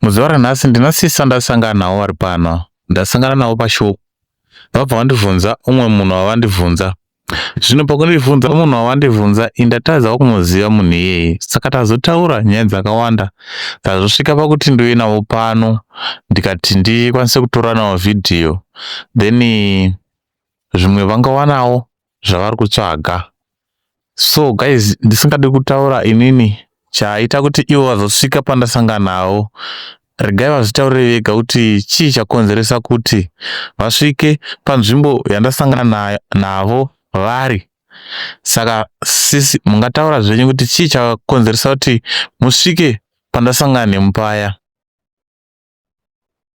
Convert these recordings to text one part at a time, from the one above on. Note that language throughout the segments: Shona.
Muzuva ranhasi ndina sisi vandasangana navo vari pano, ndasangana navo pashow vabva vandibvunza umwe munhu wavandibvunza zvino pakundibvunza munhu wavandibvunza indatadzawo kumuziva munhu iyeye saka tazotaura nyaya dzakawanda tazosvika pakuti ndiuye navo pano ndikati ndikwanise kutoranawo vhidhiyo then zvimwe vangawanawo zvavari kutsvaga so guys ndisingadi kutaura inini chaita kuti ivo vazosvika pandasanganawo regai vazvitaurire vega kuti chii chakonzeresa kuti vasvike panzvimbo yandasangana navo vari saka sisi mungataura zvenyu kuti chii chakonzeresa kuti musvike pandasangana nemupaya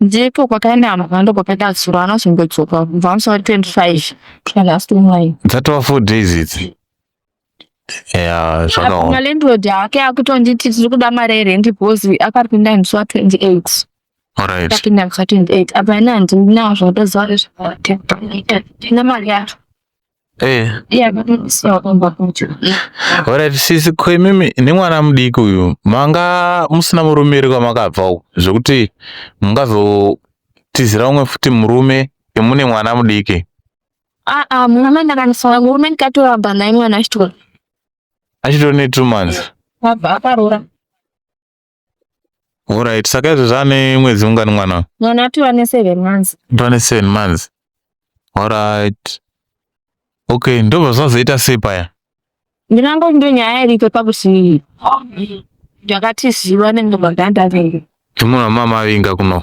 ndipo kwakaenda vanhu vakawanda kwakaita zuro anozongodzoka kubva pamusoro 25 kusvika last online dzatova four days idzi ya zvakaoma malandlord ake akutonditi tiri kuda mari yerendi because akapinda musi wa 28 alright akapinda musi wa 28 apa ini handinawo zvatoziva nezvakaita tina mari yacho Eh. Alright, sisi ko imimi nemwana mudiki uyu manga musina murume iri kwamakabva uko zvekuti mungazotizira umwe futi murume emune mwana mudiki aa ah, ah, murume ndakanisoa murume ndikatoramba naye mwana achitori achitori ne two months abva akaroora Alright, saka izvo zvane mwedzi ungani mwana? Mwana ati wane 7 months. Wane 7 months. Alright. Okay, ndobva zvazoita sei paya? Ndinango ndo nyaya iriko pakuti ndakati zviwa nengo maganda vengu. Ndimuna mama vinga kuno.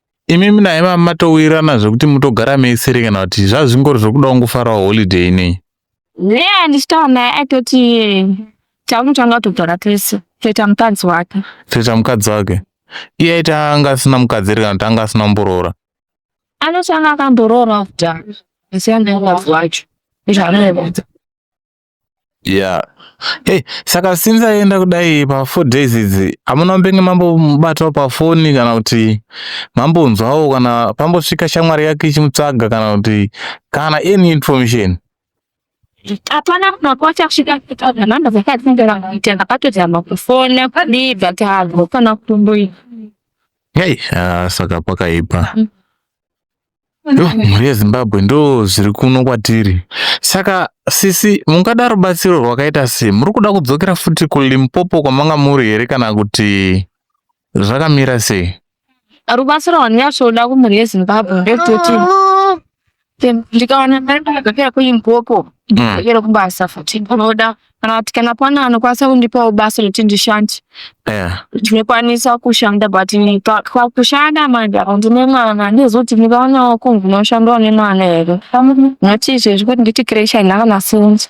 imi mina ima matowirirana zvekuti mutogara meisere kana kuti zvazvingori zvekuda kungofarawo holiday inei ne andichitaura naye aitoti taunotanga kutogara tese toita mukadzi wake toita mukadzi wake iye aiti anga asina mukadzi here kana kuti anga asina kumboroora anoti anga akamboroora kudhara asi anga mukadzi wacho izvaanoevedza Yeah. Hey, saka since aenda kudai pa four days idzi hamuna mbenge mambomubatawo pafoni kana kuti mambonzwawo kana pambosvika shamwari yake ichimutsvaga kana kuti kana any information hapana kunakwata kusvika nhamba dzake adzinongeranga kuita ndakatozama kufona kudii but hago kana kutomboita hey, uh, saka pakaipa mm. mhuri yezimbabwe ndo zviri kuno kwatiri saka sisi mungada rubatsiro rwakaita sei muri kuda kudzokera futi kulimpopo kwamanga muri here kana kuti zvakamira sei rubatsiro rwandinyasoda kumhuri yezimbabwe ndekuti ndikawana mari ndakadzokera kulimpopo mm. ndokera kubasa futi ndinoda kana kuti kana pane anokwanisa kundipawo basa rekuti ndishande yeah. ndinokwanisa kushanda but kushanda manje apo ndine mwana ndizoti ndikaonawo kunzi unoshandawo nemwana here not izvezvi kuti nditi kresha ina kana sinzi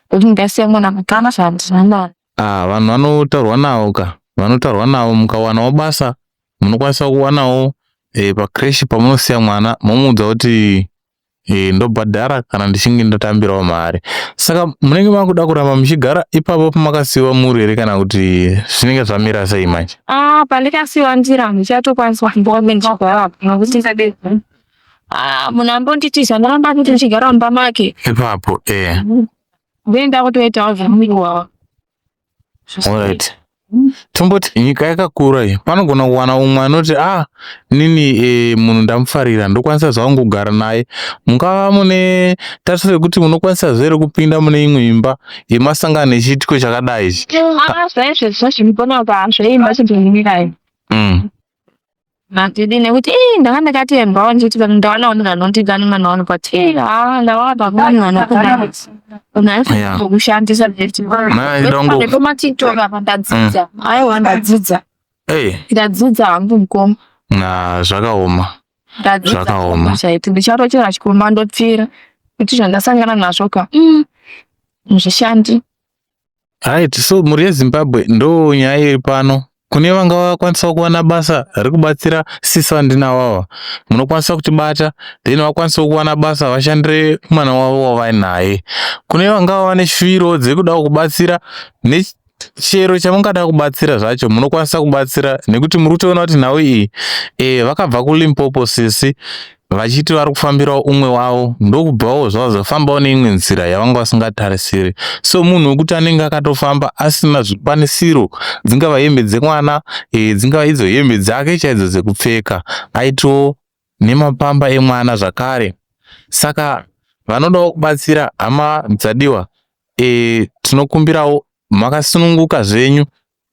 kuti ndasiya mwana mukana zvandinamana ah, vanhu vanotaurwa navo ka vanotaurwa navo mukawanawo basa munokwanisa kuwanawo e, eh, pakreshi pamunosiya mwana momuudza kuti e, ndobhadhara kana ndichinge ndatambirawo mari saka munenge makuda kuramba muchigara ipapo pamakasiwa muri here kana kuti zvinenge zvamira sei manje ah, pandikasiwa ndira ndichatokwanisa kumbove ndichigara nokuti ndade ah, munhu ambonditi zvandiramba kuti ndichigara mumba make ipapo e then ndakutoitawo zvamuiwawa Alright. Tomboti nyika yakakura iyi panogona kuwana umwe anoti ah nini e, munhu ndamufarira ndokwanisa zvangu kugara naye mungava mune tarisiro yekuti munokwanisa zvere kupinda mune imwe imba yemasangano echiitiko chakadai ichi. Ah, zvaizvezvo zvinoponawo paazvo imba chimbomumirai. Mm. Matidi nekuti ii ndanga ndakatembwawo nditi vanhu ndawana vanhu vanondigani mwana wangu but ii haa ndawana pamweni vanokugani Yeah. unakushandisa Maya ida kungo- nepomatiktok apa ndadzidza aiwa ndadzidza Hey, ndadzidza hangu mukoma na zvakaoma. ndadzidza Zvakaoma. chaiti ndichatochera chikomba ndopfira kuti zvandasangana nazvo ka mm, hazvishandi Right, so mhuri yeZimbabwe ndo nyaya iri pano. Kune vanga vakwanisawo kuwana basa rekubatsira sisi vandinawava, munokwanisa kutibata then vakwanisawo kuwana basa vashandire mwana wavo wavainaye. Kune vangava vane shwiro dzekudawo kubatsira chero chamungada kubatsira zvacho munokwanisa kubatsira nekuti muri kutoona kuti nhau iyi e, vakabva kulimpopo sisi vachiti vari kufambirawo umwe wavo ndokubvawo zvavazofambawo neimwe nzira yavanga vasingatarisiri so munhu wekuti anenge akatofamba asina zvikwanisiro dzingava hembe dzemwana e, dzingava idzo hembe dzake chaidzo dzekupfeka aitowo nemapamba emwana zvakare saka vanodawo kubatsira hama dzadiwa e, tinokumbirawo makasununguka zvenyu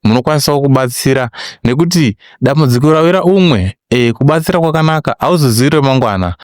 munokwanisawo kubatsira nekuti dambudziko rawira umwe kubatsira kwakanaka hauzozivi remangwana.